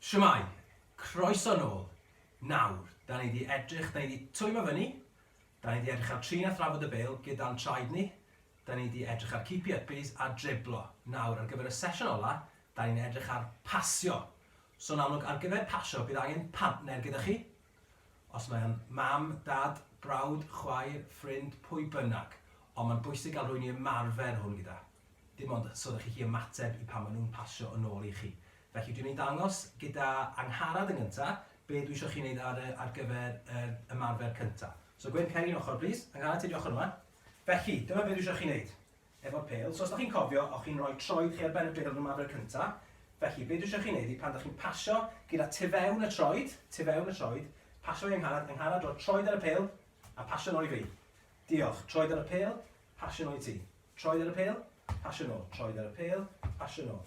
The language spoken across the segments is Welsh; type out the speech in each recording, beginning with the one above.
Shwmae! Croeso nôl! Nawr, da ni di edrych, da ni di twymo fyny, da ni di edrych ar trin a thrafod y bêl gyda'n traed ni, da ni di edrych ar keepy uppies a driblo. Nawr, ar gyfer y sesiwn ola, da ni'n edrych ar pasio. So yn amlwg, ar gyfer pasio, bydd angen partner gyda chi, Os mae o'n mam, dad, brawd, chwaer, ffrind, pwy bynnag, ond mae'n bwysig gael rhywun i ymarfer hwn gyda. Dim ond so ydych chi'n gallu ymateb i pan maen nhw'n pasio yn ôl i chi. Felly dwi'n mynd i ddangos gyda Angharad yn gyntaf be dwi eisiau chi wneud ar, ar gyfer yr ymarfer cyntaf. So Gwyn, cer i'n ochr plîs. Angharad, ti ar dy ochr yma. Felly, dyma be dwi eisiau chi wneud. efo'r pêl, so os da chi'n cofio, o'ch chi'n rhoi troed chi ar ben y bêl rhwng maddau'r cynta, felly be dwi isio chi neud i pan da chi'n pasio gyda tu fewn y troed, tu fewn y troed, pasio i Angharad, Angharad rhoi troed ar y pêl, a pasio nôl i fi. Diolch, troed ar y pêl, pasio nôl i ti. Troed ar y pêl, pasio nôl, troed ar y pêl, pasio nôl.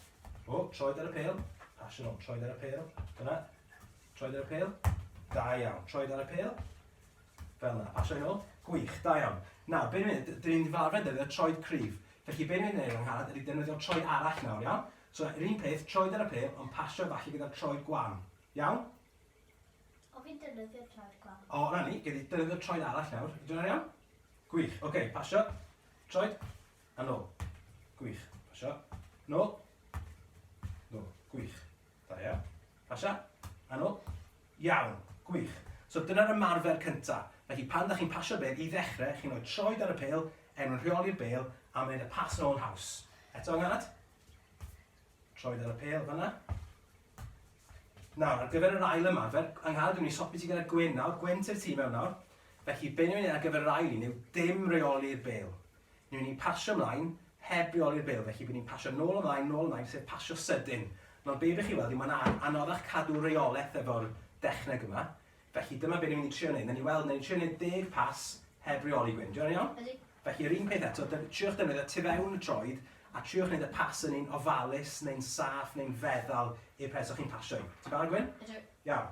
O, troed ar y pêl, pasio nôl, troed ar y pêl, dyna, troed ar y pêl, da iawn, troed ar y pêl, Fel 'na. Pasio fe nôl. Gwych, da iawn. Nawr, be' ni'n neud, dyn ni'n mynd i fel arfer defnyddio troed cryf. Felly be' ni'n neud Angharad ydi defnyddio troi arall nawr, iawn? So, yr un peth, troed ar y pêl, ond pasio e falle gyda'r troed gwan. Iawn? O, fi'n defnyddio troed gwan. O, 'na ni, gei di defnyddio troed arall nawr. Ydy hwnna'n iawn? Gwych. Ocê, pasio. Troed. A nôl. Gwych. Pasio. Nôl. Nôl. Gwych. Da iawn. Pasha? A nôl? Iawn. Gwych. So dyna'r ymarfer cynta. Felly pan ydych chi'n pasio bêl, i ddechrau, chi'n rhoi troed ar y pêl, er mwyn rheoli'r bêl, a wneud y pas nôl yn haws. Eto yng ngad. Troed ar y pêl fanna. Nawr, ar gyfer yr ail ymarfer, yng ngad, dwi'n mynd i sopi ti gyda Gwyn nawr, Gwyn ti'r tîm mewn nawr. Felly, be ni'n mynd i ar gyfer yr ail un yw dim reoli'r bêl. Newn ni pasio mlaen heb reoli'r bil, felly by ni'n pasio nôl a mlaen, nôl a mlaen, sef pasio sydyn. Nawr be' rych chi weld yw ma'n an anoddach cadw reoleth efo'r dechneg yma, felly dyma be' ni'n mynd i trio neud, newn ni weld, newn ni trio neud deg pas heb reoli Gwyn, 'di hwnna'n iawn? Ydi. Felly yr un peth eto, dy- triwch defnyddio tu fewn y troed, a triwch neud y pas yn un ofalus neu'n saff neu'n feddal i'r pres o'ch chi'n pasio i. Ti'n barod Gwyn? Ydw. Iawn.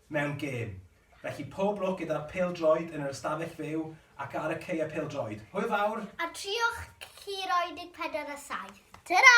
mewn gêm. Felly pob lwc gyda'r pêl-droed yn yr ystafell fyw ac ar y caeau pêl-droed. Hwyl fawr! A triwch Curo 14 a 7. Tara!